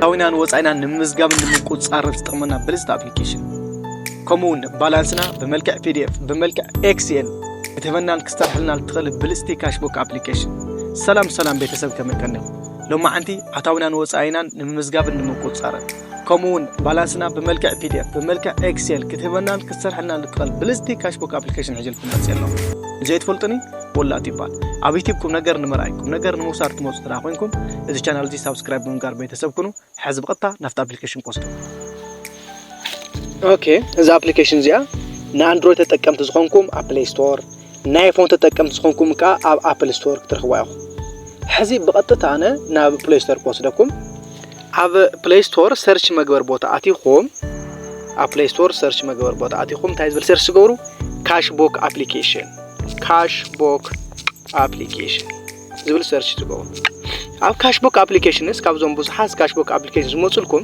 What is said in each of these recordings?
ኣታዊናን ወፃኢናን ንምምዝጋብን ንምቁፅፃርን ዝጠቕመና ብልፅቲ ኣፕሊኬሽን ከምኡ እውን ባላንስና ብመልክዕ ፒዲኤፍ ብመልክዕ ኤክስኤል ክትህበናን ክስተርሐልና ልትኽእል ብልፅቲ ካሽቡክ ኣፕሊኬሽን ሰላም ሰላም ቤተሰብ ከመይ ቀኒኹም ሎማዓንቲ ኣታዊናን ወፃኢናን ንምምዝጋብን ንምቁፅፃርን ከምኡ እውን ባላንስና ብመልክዕ ፒዲኤፍ ብመልክዕ ኤክስኤል ክትህበናን ክትሰርሐልና ልትኽእል ብልፅቲ ካሽቡክ ኣፕሊኬሽን ሕጅልኩም መፅእ ኣሎ ንዘይትፈልጡኒ ወላጥ ይባል ኣብ ዩቲብ ቁም ነገር ንምርኣይ ቁም ነገር ንምውሳድ ትመፁ ተዳ ኮይንኩም እዚ ቻናል እዚ ሳብስክራይብ ብምግባር ቤተሰብ ኩኑ ሕዚ ብቐጥታ ናብቲ ኣፕሊኬሽን ቆስዶ ኦኬ እዚ ኣፕሊኬሽን እዚኣ ንኣንድሮይድ ተጠቀምቲ ዝኾንኩም ኣብ ፕሌይ ስቶር ናይ ፎን ተጠቀምቲ ዝኾንኩም ከዓ ኣብ ኣፕል ስቶር ክትረኽቡ ኢኹም ሕዚ ብቐጥታ ኣነ ናብ ፕሌይ ስቶር ክወስደኩም ኣብ ፕሌይ ስቶር ሰርች መግበር ቦታ ኣቲኹም ኣብ ፕሌይ ስቶር ሰርች መግበር ቦታ ኣቲኹም እንታይ ዝብል ሰርች ትገብሩ ካሽቦክ ኣፕሊኬሽን ካሽ ቦክ ኣፕሊኬሽን ዝብል ሰርች ትገብሩ ኣብ ካሽቦክ ኣፕሊኬሽንስ ካብዞም ብዙሓት ካሽቦክ ኣፕሊኬሽን ዝመፅልኩም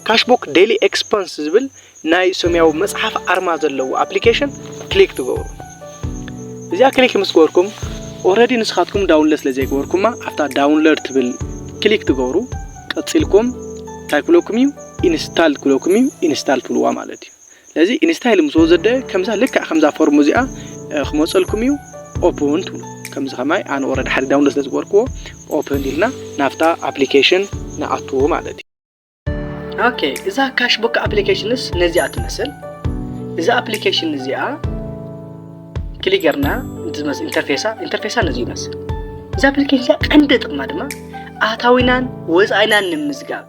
ካሽቦክ ዴሊ ኤክስፐንስ ዝብል ናይ ሰማያዊ መፅሓፍ ኣርማ ዘለዎ ኣፕሊኬሽን ክሊክ ትገብሩ እዚኣ ክሊክ ምስ ገበርኩም ኦረዲ ንስኻትኩም ዳውንሎድ ስለ ዘይገበርኩማ ኣብታ ዳውንሎድ ትብል ክሊክ ትገብሩ ቀፂልኩም እንታይ ክብለኩም እዩ ኢንስታል ክብለኩም እዩ ኢንስታል ትብልዋ ማለት እዩ ለዚ ኢንስታይል ምስ ወዘደ ከምዛ ልክዕ ከምዛ ፎርም እዚኣ ክመፀልኩም እዩ ኦፕን ትብሉ ከምዚ ከማይ ኣነ ወረደ ሓደ ዳውንሎ ስለ ዝገበርክዎ ኦፕን ኢልና ናብታ ኣፕሊኬሽን ንኣትዎ ማለት እዩ ኦኬ እዛ ካሽቡክ ኣፕሊኬሽንስ ነዚኣ ትመስል እዛ ኣፕሊኬሽን እዚኣ ክሊክ ጌርና እንትመስል ኢንተርፌሳ ኢንተርፌሳ ነዚ ይመስል እዛ ኣፕሊኬሽን እዚኣ ቀንዲ ጥቕማ ድማ ኣታዊናን ወፃኢናን ንምዝጋብ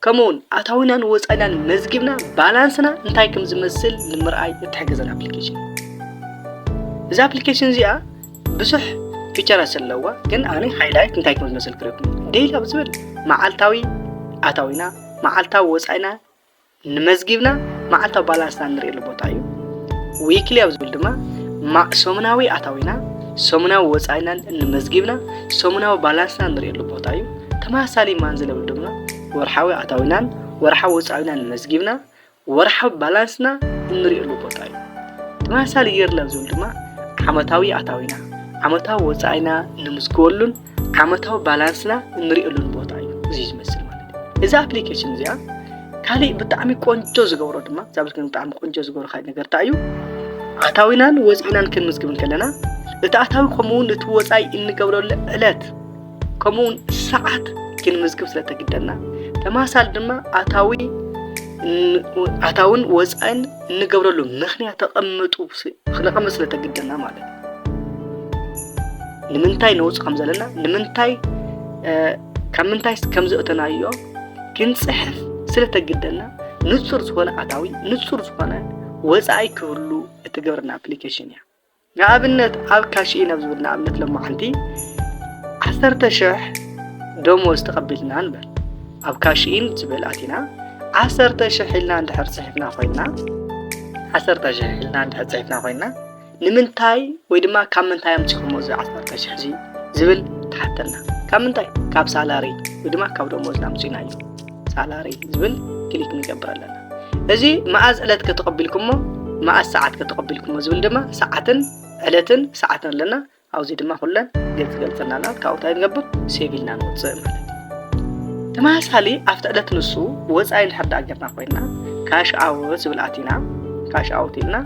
ከምኡውን ኣታዊናን ወፃኢናን መዝጊብና ባላንስና እንታይ ከም ዝመስል ንምርኣይ እትሕግዘና ኣፕሊኬሽን እዛ ኣፕሊኬሽን እዚኣ ብዙሕ ፊቸራት ዘለዋ ግን ኣነ ሃይላይት እንታይ ከም ዝመስል ክረኩም ዴይሊ ኣብ ዝብል መዓልታዊ ኣታዊና መዓልታዊ ወፃኢና ንመዝጊብና መዓልታዊ ባላንስና ንሪእሉ ቦታ እዩ ዊክሊ ኣብ ዝብል ድማ ሰሙናዊ ኣታዊና ሰሙናዊ ወፃኢናን እንመዝጊብና ሰሙናዊ ባላንስና ንሪእሉ ቦታ እዩ ተመሳሳሊ ማንዝለ ውድብና ወርሓዊ ኣታዊናን ወርሓዊ ወፃኢናን መዝጊብና ወርሓዊ ባላንስና እንሪእሉ ቦታ እዩ። ተመሳሳሊ የርለን ዝብል ድማ ዓመታዊ ኣታዊና ዓመታዊ ወፃኢና ንምዝግበሉን ዓመታዊ ባላንስና እንሪእሉን ቦታ እዩ እዚ ዝመስል ማለት እዩ እዛ ኣፕሊኬሽን እዚኣ ካሊእ ብጣዕሚ ቆንጆ ዝገብሮ ድማ እዛ ብልክን ብጣዕሚ ቆንጆ ዝገብሮ ካሊእ ነገር እንታይ እዩ ኣታዊናን ወፃኢናን ክንምዝግብ ከለና እቲ ኣታዊ ከምኡውን እቲ ወፃኢ እንገብረሉ ዕለት ከምኡ እውን ሰዓት ክንምዝግብ ስለ ተግደና ተመሳሳሊ ድማ ኣታዊ ኣታውን ወፃእን እንገብረሉ ምክንያት ተቐምጡ ክነቐምጥ ስለ ተግደና ማለት እዩ ንምንታይ ነውፅ ከም ዘለና ንምንታይ ካብ ምንታይ ከም ዘእተናዮ ክንፅሕፍ ስለ ተግደና ንፁር ዝኾነ ኣታዊ ንፁር ዝኾነ ወፃኢ ክህሉ እትገብረና ኣፕሊኬሽን እያ ንኣብነት ኣብ ካሽኢን ኣብ ዝብል ንኣብነት ሎማዓንቲ ዓሰርተ ሽሕ ደሞዝ ተቐቢልና ንበል ኣብ ካሽኢን ዝብል ኣቲና ዓሰርተ ሽሕ ኢልና እንድሕር ፅሒፍና ኮይና ዓሰርተ ሽሕ ኢልና እንድሕር ፅሒፍና ኮይና ንምንታይ ወይ ድማ ካብ ምንታይ ኣምፂኹሞ እዚ ዓሰርተ ሽሕ እዚ ዝብል ትሓተና ካብ ምንታይ ካብ ሳላሪ ወይ ድማ ካብ ደሞዝና ኣምፂና እዩ ሳላሪ ዝብል ክሊክ ንገብር ኣለና እዚ መኣዝ ዕለት ከተቐቢልኩሞ መኣዝ ሰዓት ከተቐቢልኩሞ ዝብል ድማ ሰዓትን ዕለትን ሰዓትን ኣለና ኣብዚ ድማ ኩለን ገፅ ገልፀና ኣላ ካብኡ እንታይ ንገብር ሴቭ ኢልና ንወፅእ ማለት እዩ ተመሳሳሊ ኣብቲ ዕለት ንሱ ወፃኢ እንድሕር ዳኣ ጌርና ኮይና ካሽ ኣውት ዝብል ኣቲና ካሽ ኣውት ኢልና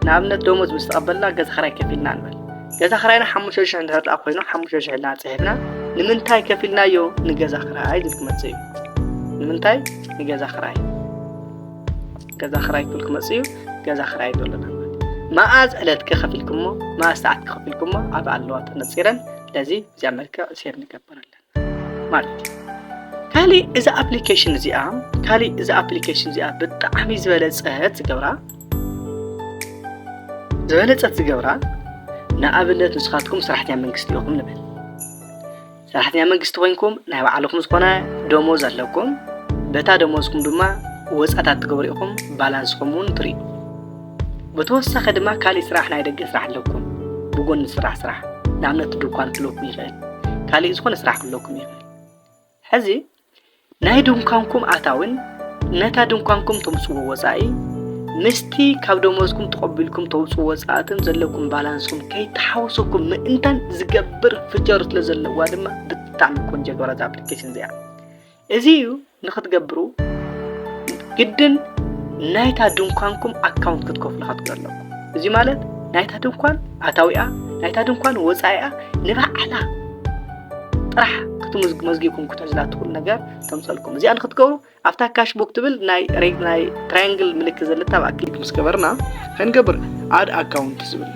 ንኣብነት ደሞዝ ምስ ተቐበልና ገዛ ክራይ ከፊልና ንበል ገዛ ክራይና ሓሙሽተ ሽሕ እንድሕር ደኣ ኮይኑ ሓሙሽተ ሽሕ ኢልና ጽሒፍና ንምንታይ ከፊልናዮ ንገዛ ክራይ ዝብል ክመጽእ እዩ ንምንታይ ንገዛ ክራይ ገዛ ክራይ ክብል ክመጽእ እዩ ገዛ ክራይ ዘለና መኣዝ ዕለት ከኸፊልኩሞ መኣዝ ሰዓት ከኸፊልኩሞ ኣብ ኣለዋ ተነጺረን ስለዚ እዚኣ መልክዕ ሴር ንገብረለን ማለት እዩ ካልእ እዛ ኣፕሊኬሽን እዚኣ ካልእ እዛ ኣፕሊኬሽን እዚኣ ብጣዕሚ ዝበለፀት ዝገብራ ዝበለፀት ዝገብራ ንኣብነት ንስኻትኩም ሰራሕተኛ መንግስቲ ኢኹም ንብል ሰራሕተኛ መንግስቲ ኮይንኩም ናይ ባዕልኹም ዝኾነ ደሞዝ ኣለኩም በታ ደሞዝኩም ድማ ወፃታት ትገብሩ ኢኹም ባላንስኹም እውን ትርእዩ ብተወሳኺ ድማ ካሊእ ስራሕ ናይ ደገ ስራሕ ኣለኩም ብጎኒ ዝስራሕ ስራሕ ንኣብነት ድኳን ክህልወኩም ይኽእል ካሊእ ዝኾነ ስራሕ ክህልወኩም ይኽእል ሕዚ ናይ ድንኳንኩም ኣታዊን ነታ ድንኳንኩም ተምፅዎ ወፃኢ ምስቲ ካብ ደሞዝኩም ተቐቢልኩም ተውፅኡ ወፃእትን ዘለኩም ባላንስኩም ከይተሓወሰኩም ምእንታን ዝገብር ፍቸር ስለ ዘለዋ ድማ ብጣዕሚ ቆንጆ ገራት ኣፕሊኬሽን እዚኣ እዚ እዩ ንክትገብሩ ግድን ናይታ ድንኳንኩም ኣካውንት ክትከፍሉ ክትከፍሉ ኣለኩም እዚ ማለት ናይታ ድንኳን ኣታዊኣ ናይታ ድንኳን ወፃኢኣ ንባዕላ ጥራሕ ክትመዝጊብኩም ክትሕዝላ ትኽእሉ ነገር ተምፀልኩም እዚኣ ንክትገብሩ ኣብታ ካሽ ቡክ ትብል ናይ ናይ ትራያንግል ምልክት ዘለታ ኣብኣ ክሊክ ምስ ገበርና ከንገብር ኣድ ኣካውንት ዝብል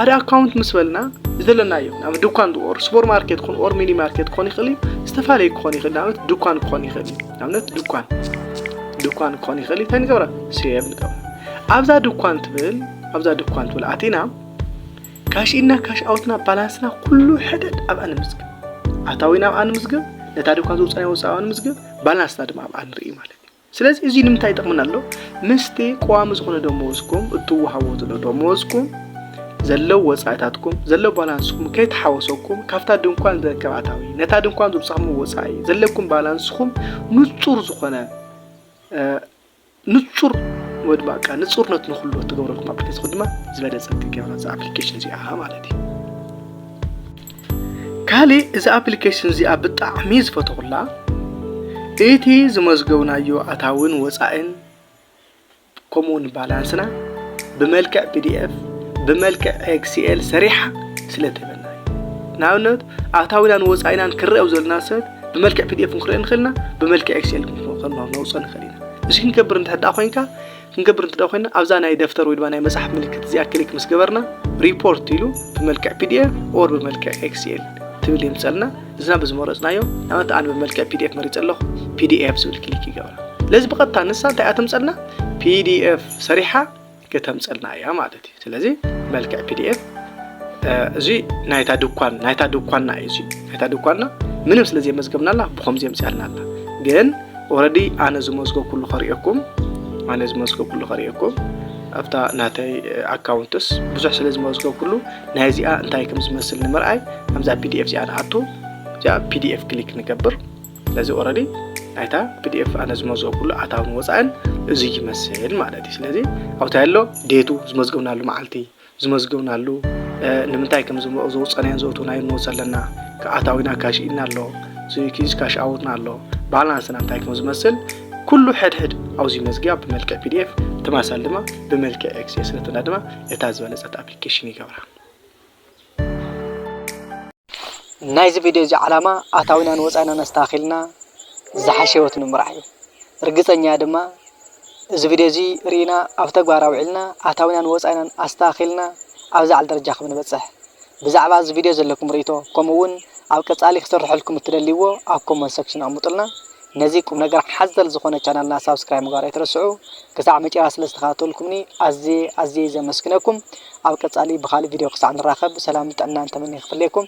ኣድ ኣካውንት ምስ በልና ዘለናዮ ናብ ድኳን ኦር ሱፐር ማርኬት ክኾን ኦር ሚኒ ማርኬት ክኾን ይኽእል እዩ ዝተፈላለየ ክኾን ይኽእል ንኣብነት ድኳን ክኾን ይኽእል እዩ ንኣብነት ድኳን ድኳን ክኾን ይኽእል እንታይ ንገብራ ሴቭ ንገብራ ኣብዛ ድኳን ትብል ኣብዛ ድኳን ትብል ኣቲና ካሽ ኢንና ካሽ ኣውትና ባላንስና ኩሉ ሕደድ ኣብኣ ንምዝግብ ኣታዊና ኣብኣ ንምዝግብ ነታ ድኳን ዝውፃና ወፃ ንምዝግብ ባላንስና ድማ ኣብኣ ንርኢ ማለት እዩ ስለዚ እዚ ንምንታይ ይጠቕመና ኣሎ? ምስቲ ቀዋሚ ዝኾነ ደመወዝኩም እትወሃቦ ዘሎ ደመወዝኩም ዘሎ ወጻኢታትኩም ዘሎ ባላንስኩም ከይተሓወሰኩም ካብታ ድንኳን ዝርከብ ኣታዊ ነታ ድንኳን ዘውጻኹም ወጻኢ ዘለኩም ባላንስኩም ንጹር ዝኾነ ንጹር ወይ ድማ ቃ ንጹርነት ንኩሉ እትገብረልኩም ኣፕሊኬሽን ድማ ዝበለጸ ክትገብራ እዛ ኣፕሊኬሽን እዚኣ ማለት እዩ ካሊእ እዛ ኣፕሊኬሽን እዚኣ ብጣዕሚ ዝፈተኹላ እቲ ዝመዝገብናዮ ኣታዊን ወፃኢን ከምኡ እውን ባላንስና ብመልክዕ ፒዲኤፍ ብመልክዕ ኤክስኤል ሰሪሓ ስለ ትህበና እዩ ንኣብነት ኣታዊናን ወፃኢናን ክረአ ኣብ ዘለና ሰብ ብመልክዕ ፒዲኤፍ ክንረአ ንኽእል ኢና ብመልክዕ ኤክስኤል ከነውፅኦ ንኽእል ኢና እዚ ክንገብር እንተሕዳ ኮንካ ክንገብር እንተ ኮይና ኣብዛ ናይ ደፍተር ወይ ድማ ናይ መጽሓፍ ምልክት እዚኣ ክሊክ ምስ ገበርና ሪፖርት ኢሉ ብመልክዕ ፒዲኤፍ ኦር ብመልክዕ ኤክስኤል ትብል የምፀልና እዝና ብዝመረፅናዮ ንኣብነት ኣነ ብመልክዕ ፒዲኤፍ መሪፀ ኣለኹ ፒዲኤፍ ዝብል ክሊክ ይገብራ ለዚ ብቐጥታ ንሳ እንታይ እያ ተምፀልና ፒዲኤፍ ሰሪሓ ከተምፀልና እያ ማለት ስለዚ መልክዕ ፒዲኤፍ እዚ ናይታ ድኳን ናይታ ድኳንና እዩ እዚ ናይታ ድኳንና ምንም ስለ ዘየመዝገብናላ ብኸምዚ የምፅኣልና ኣላ ግን ኦረዲ ኣነ ዝመዝገብ ኩሉ ከርእየኩም ኣነ ዝመዝገብ ኩሉ ከርእየኩም ኣብታ ናተይ ኣካውንትስ ብዙሕ ስለ ዝመዝገብ ኩሉ ናይ እዚኣ እንታይ ከም ዝመስል ንምርኣይ ኣብዛ ፒዲኤፍ እዚኣ ንኣቱ እዚኣ ፒዲኤፍ ክሊክ ንገብር ስለዚ ኦረዲ ናይታ ፒዲኤፍ ኣነ ዝመዝኦ ኩሉ ኣታውን ወፃእን እዚ ይመስል ማለት እዩ ስለዚ ኣብታ ኣሎ ዴቱ ዝመዝገብናሉ መዓልቲ ዝመዝገብናሉ ንምንታይ ከም ዘውፀናዮን ዘውትናዮ ንወፅ ኣለና ኣታዊና ካሽ ኢና ኣሎ ኪዝ ካሽ ኣውትና ኣሎ ባላንስና እንታይ ከም ዝመስል ኩሉ ሕድሕድ ኣብዚ መዝጊያ ብመልክዕ ፒዲኤፍ ተማሳል ድማ ብመልክዕ ኤክስኤስ ነትና ድማ እታ ዝበለፀት ኣፕሊኬሽን ይገብራ ናይዚ ቪድዮ እዚ ዓላማ ኣታዊናን ወፃኢናን ኣስተኻኺልና ዝሓሸ ህይወት ንምምራሕ እዩ። ርግፀኛ እየ ድማ እዚ ቪድዮ እዚ ርኢና ኣብ ተግባር ኣውዒልና ኣታዊናን ወፃኢናን ኣስተኻኺልና ኣብ ዝለዓለ ደረጃ ከም ንበፅሕ። ብዛዕባ እዚ ቪድዮ ዘለኩም ርኢቶ ከምኡ እውን ኣብ ቀፃሊ ክስርሐልኩም እትደልይዎ ኣብ ኮመንት ሰክሽን ኣቕምጡልና። ነዚ ቁምነገር ሓዘል ዝኾነ ቻናልና ሳብስክራይብ ምግባር ኣይትረስዑ። ክሳዕ መጨረሻ ስለ ዝተኸታተልኩምኒ ኣዝየ ኣዝየ ዘመስግነኩም። ኣብ ቀጻሊ ብኻልእ ቪድዮ ክሳዕ ንራኸብ ሰላምን ጥዕናን ተመንየ ክፍለየኩም።